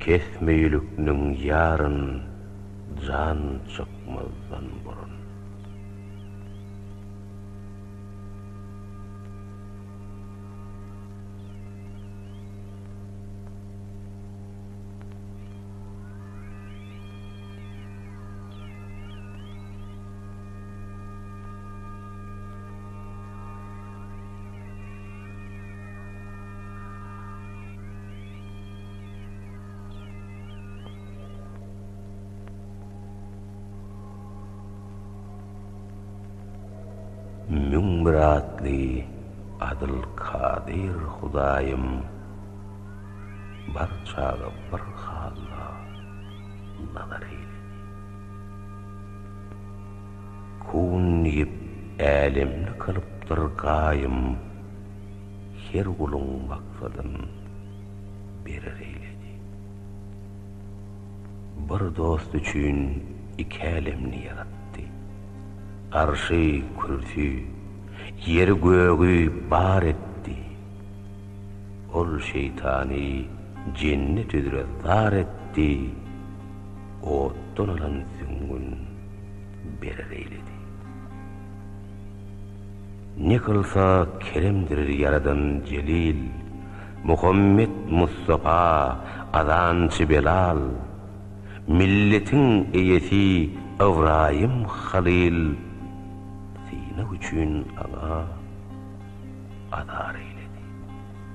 Kesmeýlikniň ýaryn jan çykmazdan burun. Müň bir atly Adyl Kadyr Hudaýym bar çaga bir halla nazar eýle. Kun diýip älemli kylypdyr gaýym. Her guluň maksadyn berer eýledi. Bir dost üçin iki älemni ýaratdy. Arşy, kürsü, ýeri, gögi bar etdi. Ol şeýtany jennet üzre zar etdi, otdan alan süňňün berer eýledi. Ne kylsa keremdir Ýaradan jelil, Muhammet Mustapa azançy Belal, Milletiň eýesi Ybraýym Halyl, Synag üçin aňa azar eýledi.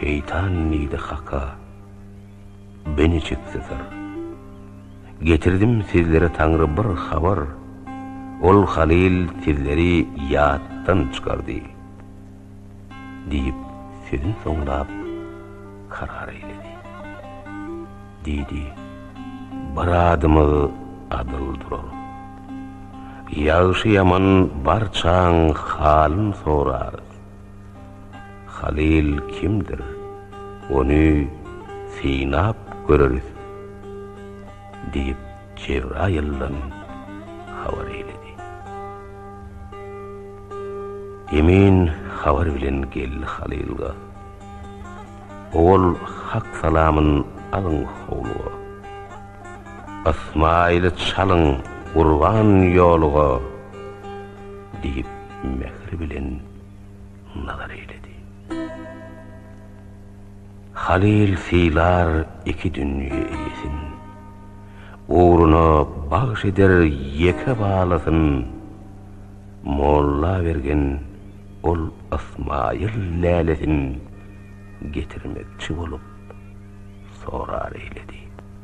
Şeýtan diýdi Haka, Beni çekseser. Getirdim sizlere Taňry bir habar, Ol Halyl sizleri ýatdan çykardy. diýip, sözün soňlap, karar eýledi. Diýdi, Bir adymyz adyl durar. Ýagşy-ýaman barçaň halyn sorarys. Halyl kimdir, ony synap göreris, diýip. Jebraýyldan habar eýledi. Emin habar bilen geldi Halylga. Owal Hak salamyn alyň howluga. Ysmaýyly çalyň gurban ýoluga, diýip, mähir bilen nazar eýledi. Halyl sylar iki dünýe eýesin, Ugruna bagş eder ýeke balasyn. Molla bergen ol Ysmaýyl lälesin, Getirmekçi bolup sorar eýledi.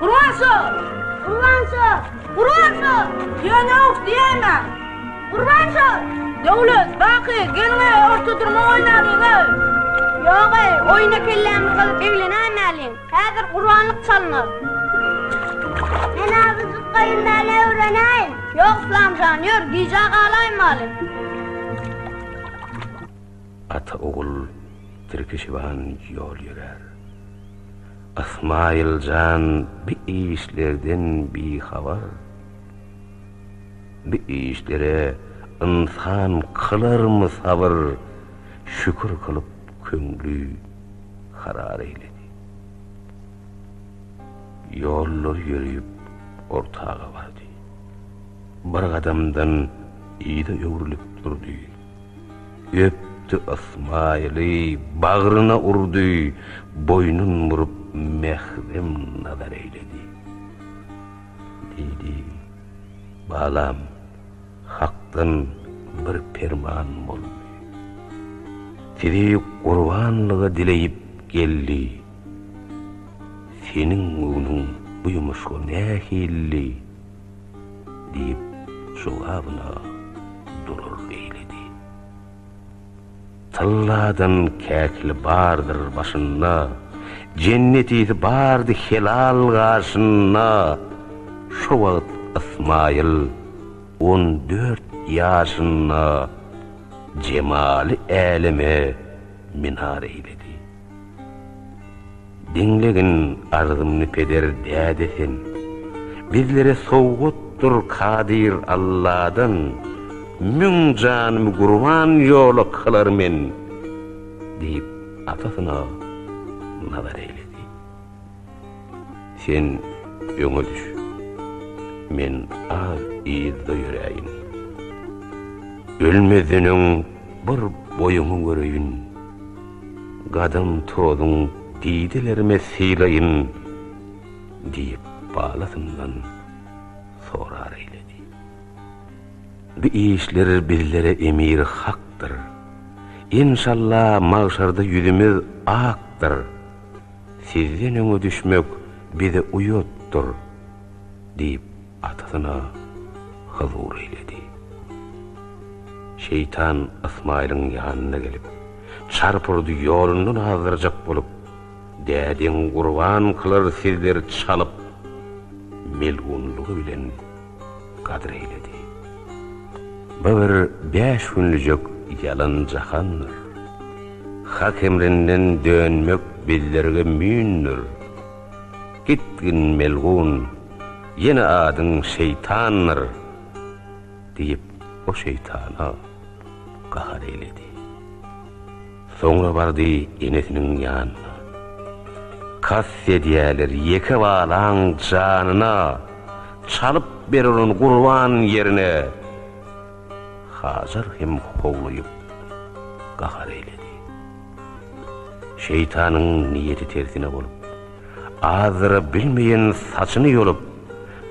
Gurbanşa! Gurbanşa! Gurbanşa! Ýöneok diýäýmä! Gurbanşa! Döwlet, Baky, geliň-eý, orta durma oýnalyň-eý! Ýog-eý, oýna kellämiz gyzyp eglenäýmäliň. Häzir gurbanlyk çalynar. Men azajyk gaýynbäli öwrenäýin. Ýok, Yslam jan, ýör, gijä galaýmaly. Ata-ogul tirkişiban ýol ýörär. Ysmaýyl jan bi işlerden bihabar. Bi işlere ynsan kylarmy sabyr? Şükür kylyp köňli karar eýledi. Ýollar ýöreýip ortaga bardy. Bir gadamdan yza öwrülip durdy. Öpdi Ysmaýyly, bagryna urdy, boýnun burup mährem nazar eýledi. Diýdi, Balam, Hakdan bir perman boldy. Sizi gurbanlyga dileýip geldi. Seniň göwnüň bu ýumuşga nähilli? diýip, jogabyna durur eýledi. Tylladan käkili bardyr başynda, jennetisi bardy helal gaşynda. Şo wagt Ysmaýyl on dört ýaşynda, jemaly äleme minar eýledi. Diňlegin arzymny peder däde sen Bizlere sowgatdyr kadyr Alladan Müň janymy gurban ýola kylar men diýip atasyna nazar eýledi. Sen öňe düş. Men az yzda ýöräýin. Ölmezden öň bir boýuňy göreýin. Gadam tozuň didelerime sylaýyn, diýip balasyndan sorar eýledi. Bu işler bizlere emir hakdyr. Enşalla magşarda ýüzümiz akdyr. Sizden öňe düşmek bize uýatdyr, diýip, atasyna hyzur eýledi. Şeýtan Ysmaýylyň ýanyna gelip, çarpyrdy ýolundan azdyrjak bolup, Dädeň gurban kylar sizleri çalyp, melgunlygy bilen Gadyr eýledi. Bu bir bäş günlüjek ýalan jahandyr. Hak emrinden dönmek bizlerge müýndür. Gitgin melgun, ýene adyň şeýtandyr! diýip, o şeýtana gahar eýledi. Soňra bardy enesiniň ýanyna. Kast edýäler ýeke balaň janyna, Çalyp ber onuň gurban ýerine. Hajar hem howluýup, gahar eýledi. Şeýtanyň niýeti tersine bolup, Azdyra bilmeýän saçyny ýolup,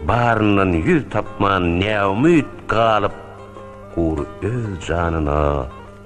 Baryndan ýüz tapman näumyt galyp, Gury öz janyna,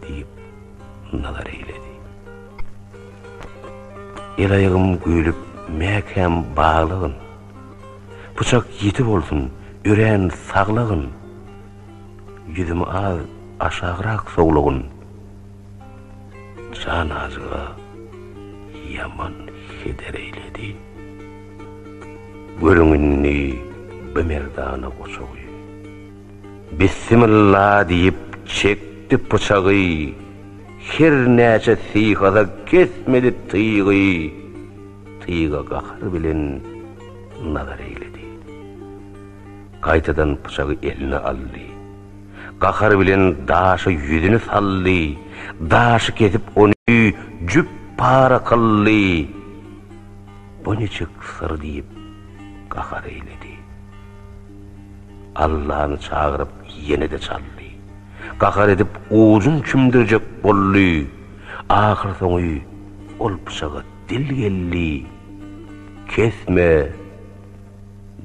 Diýip, nazar eýledi. El aýagym güýlüp mäkäm baglygyn, Pyçak ýiti bolsun, örän saglygyn, Ýüzümi az aşagrak sowlugyn, Jan ajyga ýaman heder eýledi. Görüň indi bimerdana goçagy. Bissimilla diýip çekdi pyçagy, Her näçe syýhasa kesmedi tygy. Tyga gahar bilen nazar eýledi. Gaýtadan pyçagy eline aldy. Gahar bilen daşa ýüzüni saldy. Daşy kesip ony jüp para kyldy. Bu niçik syr diýip gahar eýledi. Allany çagyryp ýene-de çaldy. Gahar edip ujun çümdürjek boldy. Ahyrsoňy ol pyçaga dil geldi. Kesme!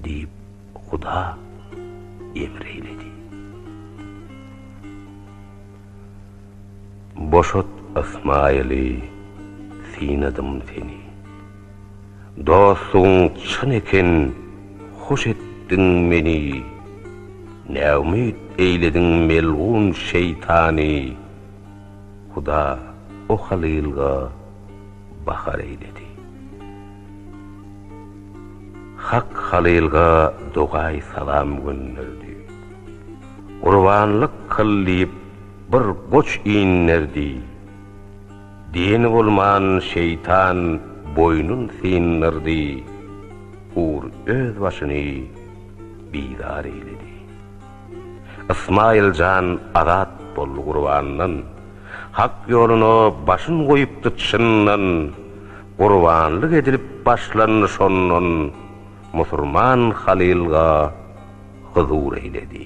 diýip huda emr eýledi. Boşat Ysmaýyly, synadym seni. Dostlugyň çyn eken hoş etdiň meni, Näumyt eýlediň melgun şeýtany, Huda o halylga bahar eýledi. Hak halylga dogaý salam gönderdi, Gurbanlyk kyl diýip bir goç inderdi. Dini bolman şeýtan boýnun syndyrdy, Hur öz başyny bizar eýledi. Ysmaýyl jan azat boldy gurbandan, Hak ýoluna başyn goýupdy çyndan, Gurbanlyk edilip başlandy şondan, Musurman Halylga huzur eýledi.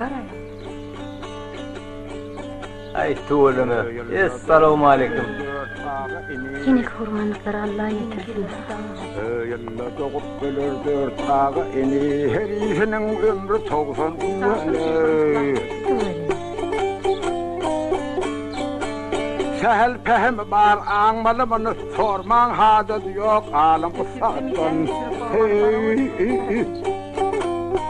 Garaýa. Aý tüweleme. Essalowmaleýkim. Henek hormanlyklary Alla ýetirsin. Ýylda dogup öler dört aga ini herisiniň ömri togsan Sähel pähim bar aňmaly muny sormaň hajat ýok alyň ussatdan. Hey.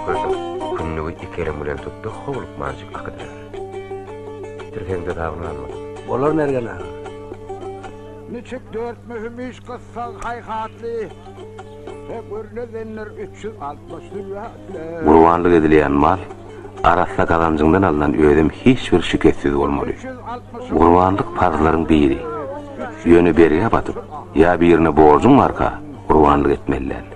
Köşek kündügi iki elim bilen tutdy, howlukmanjyk akydyberdi. Tirsegiňde dagyny almadyň. Bolar Mergen aga. Niçik dört möhüm iş gyssag haýhatly we gürledenler üç ýüz altmyş zülwähtle. Gurbanlyk edilýän mal arassa gazanjyňdan alnan özem hiç bir şikessiz bolmaly. Gurbanlyk parzlaryň biri. Ýöne bergä batyp, ýa birine borjuň barka, gurbanlyk etmeli däl.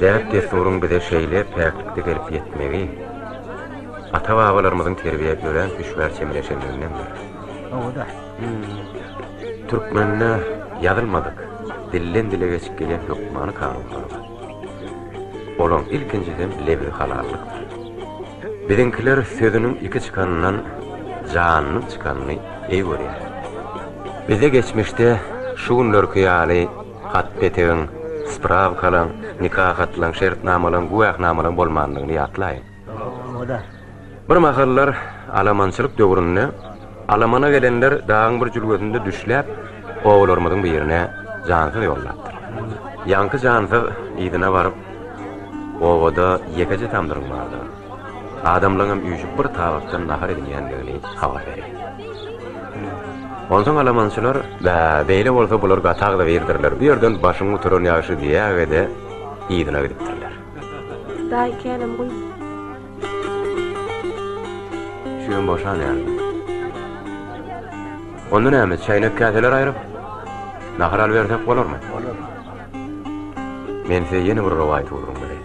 Däp-dessuryň bize şeýle päklikde gelip ýetmegi ata-babalarymyzyň terbiýä örän hüşgär çemeleşenligindendir. Hawa-da. Türkmende ýazylmadyk, dilden-dile geçip gelýän hökmany kanunlar bar. Olaryň ilkinjisem lebzi halallykdyr. Biziňkiler sözüniň iki çykanyndan janynyň çykanyny eý görýär. Bizde geçmişde şu günlerki ýaly Hat-petegiň, sprawkalaň, nika hatlaň, şertnamalaň, güwähnamalaň bolmandygyny ýatlaýyň. Bir mahallar alamançylyk döwründe alamana gelenler dagyň bir jülgesinde düşläp, obalarymyzyň birine jansyz ýollapdyr. Ýaňky jansyz yzyna baryp, Obada ýekeje tamdyryň bardygyny. Adamlaňam üýşüp bir tabakdan nahar edinýändigini habar berýär. Onsoň alamançylar, Bä, beýle bolsa bular gatagda birdirler, bu ýerden başyň gutaran ýagşy diýäge-de yzyna gidipdirler. Daýy känäm guýup. Şüýem boşan ýaly. Onda näme, çäýnek-käseler aýryp, nahar alybersek bolarmy? Bolar. Men size ýene bir rowaýat ugrun berýän.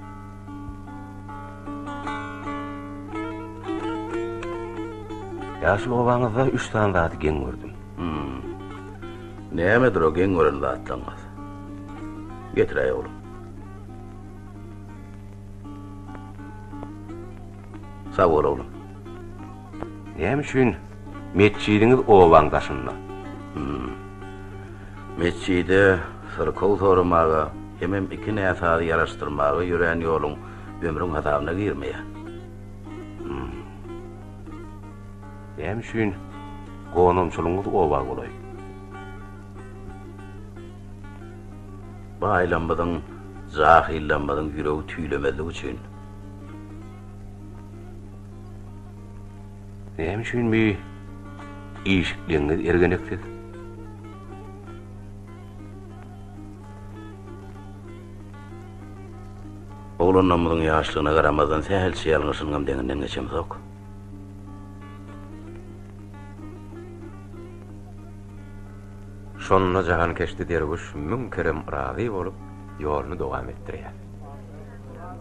Ýaşyl obaňyzda üç sany zady geň gördüm. Nämedir o geň gören zatlaryňyz? Getiräý oglum. Sag bol oglum. Näme üçin metjidiňiz obaň daşynda? Hum. Metjide syrkaw soramaga hemem iki näsazy ýaraşdyrmaga ýörän ýoluň ömrüň hasabyna girmeýär. Hum. Näme üçin gonamçylygyňyz oba golaý? Baýlarymyzyň, jahyllarymyzyň ýüregi tüýlemezligi üçin. Näme üçin bi işikligiňiz ergeneksiz? Oglanlarymyzyň ýaşlygyna garamazdan sähelçe ýalňyşynyňam deňinden geçemzok. Şonda jahankeşde derwüş müň kerem razy bolup, ýoluny dowam etdirýär.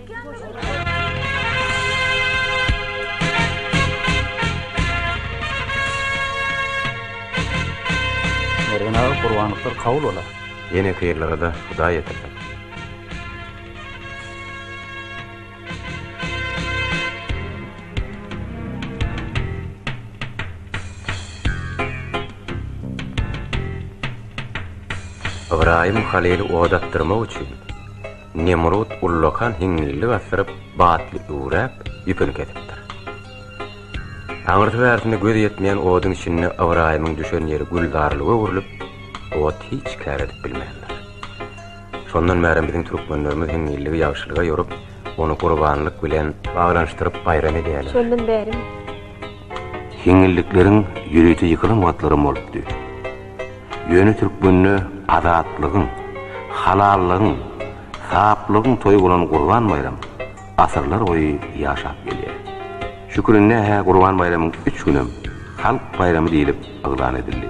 Mergen aga gurbanlyklar kabul bola. Ýene Kyrlygyza Hudaý ýetirsin. Ybraýym Halyly odakdyrmak üçin. Nemrut ullakan hiňňillik asdyryp, batly üwräp, ýüpüni kesipdir. Aňyrsy-bärsine göz ýetmeýän oduň içinde Ybraýymyň düşen ýeri gülzarlyga öwrülip, ot hiç kär edip bilmändir. Şondan bärem biziň türkmenlerimiz hiňňilligi ýagşylyga ýorup, ony gurbanlyk bilen baglanyşdyryp baýram edýärler. Şondan bärem. Hiňňillikleriň ýörite ýykylan wagtlaram bolupdy. Ýöne türkmende azatlygyň, halallygyň, saplygyň toýy bolan Gurban baýram asyrlar boýy ýaşap gelýär. Şu gününde-hä Gurban baýramyň üç günem halk baýramy diýlip yglan edildi.